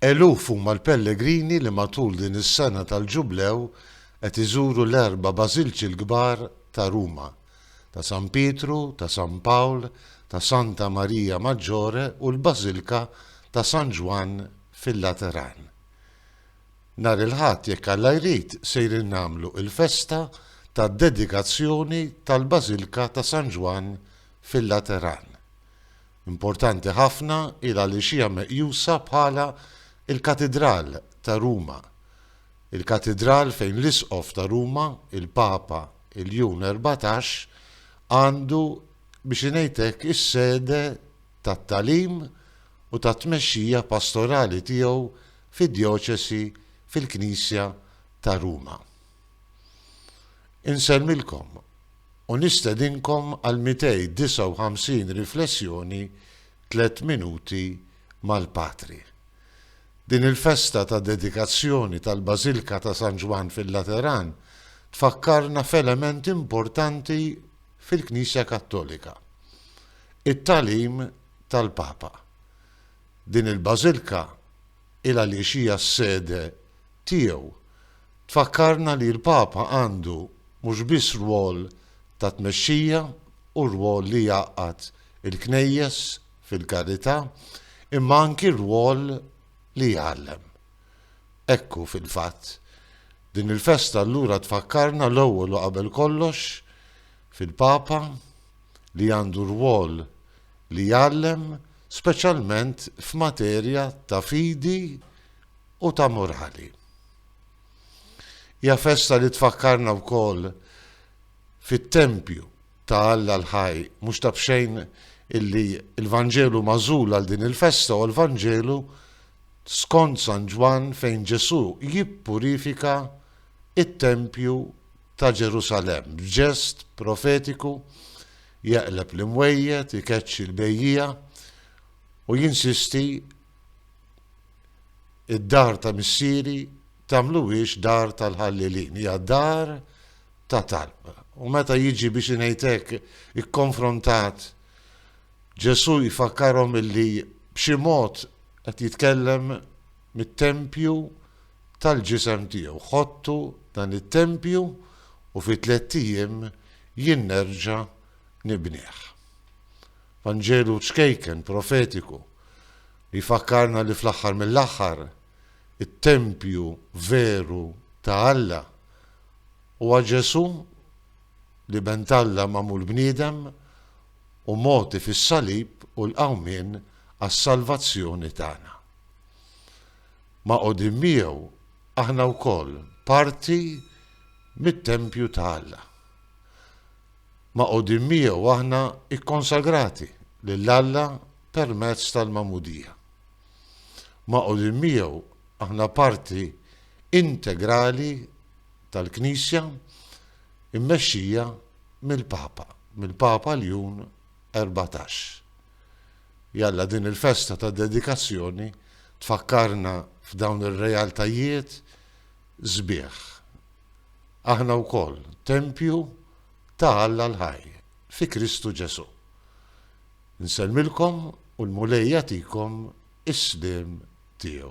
Eluf huma l-pellegrini li matul din is-sena tal-Ġublew qed iżuru l-erba' bażilċi l-kbar ta' Ruma, ta' San Pietru, ta' San Pawl, ta' Santa Maria Maggiore u l-Bażilka ta' San Ġwann fil-Lateran. Nhar il-Ħadd, jekk Alla jrid, sejrin nagħmlu l-festa tad-dedikazzjoni tal-Bażilka ta' San Ġwann fil-Lateran. Importanti ħafna hi għaliex hija meqjusa bħala l-katidral ta' Ruma. Il-katidral fejn l-Isqof ta' Ruma, il-Papa Iljun Erbatax, għandu biex ingħid hekk is-sede tat-tagħlim u tat-tmexxija pastorali tiegħu fid-djoċesi fil-Knisja ta' Ruma. Insellmilkom u nistedinkom għall-259 riflessjoni Tliet Minuti mal-Patri. Din il-festa ta' dedikazzjoni tal-Bażilka ta' San Ġwann fil-Lateran tfakkarna f'element importanti fil-Knisja Kattolika, it-tagħlim tal-Papa. Din il-Bażilka, il għaliex hija s-sede tiegħu. Tfakkarna li l-Papa għandu mhux biss rwol ta' tmexxija u rwol li jgħaqqad il-Knejjes fil-karità imma anki rwol li jgħallem. Hekk hu fil-fatt. Din il-festa allura tfakkarna l-ewwel u qabel kollox fil-Papa li għandu rwol li jgħallem speċjalment f'materja ta' fidi u ta' morali. Hija festa li tfakkarna wkoll fit-tempju ta' Alla l-ħaj, mhux ta' bxejn illi l-Vanġelu mażul għal din il-festa u l-Vanġelu skont San Ġwann fejn Ġesù jippurifika it-tempju ta' Ġerusalemm, b'ġest profetiku jeqleb l-imwejjed, ikeċċi l-bejjiegħa u jinsisti id-dar ta' missieri tagħmluhiex dar tal-ħallilin, hija dar ta' talb. U meta jiġi biex inejtek ikkonfrontat Ġesu jfakkarhom illi b'xi mod qed jitkellem mit-tempju tal-ġisem tiegħu. Ħottu dan it-tempju u fi tlett ijiem jien nerġa' nibnih. Vanġelu ċkejken, profetiku, li jfakkarna li fl-aħħar mill-aħħar it-tempju veru ta' Alla huwa Ġesù, l-Iben t'Alla magħmul bniedem u mogħti fis-salib u l-qawmien għas-salvazzjoni tagħna. Magħqudin miegħu aħna wkoll parti mit-tempju ta' Alla. Magħqudin miegħu aħna kkonsagrati lil Alla permezz tal-magħmudija. Magħqudin miegħu aħna parti integrali tal-Knisja immexxija mill-Papa, mill-Papa Ljun 14. Jalla din il-festa ta' dedikazzjoni tfakkarna f'dawn ir-realtajiet sbieħ. Aħna wkoll tempju ta' Alla l-ħaj fi Kristu Ġesù. Insellmilkom u l-Mulej jagħtikom is-sliem tiegħu.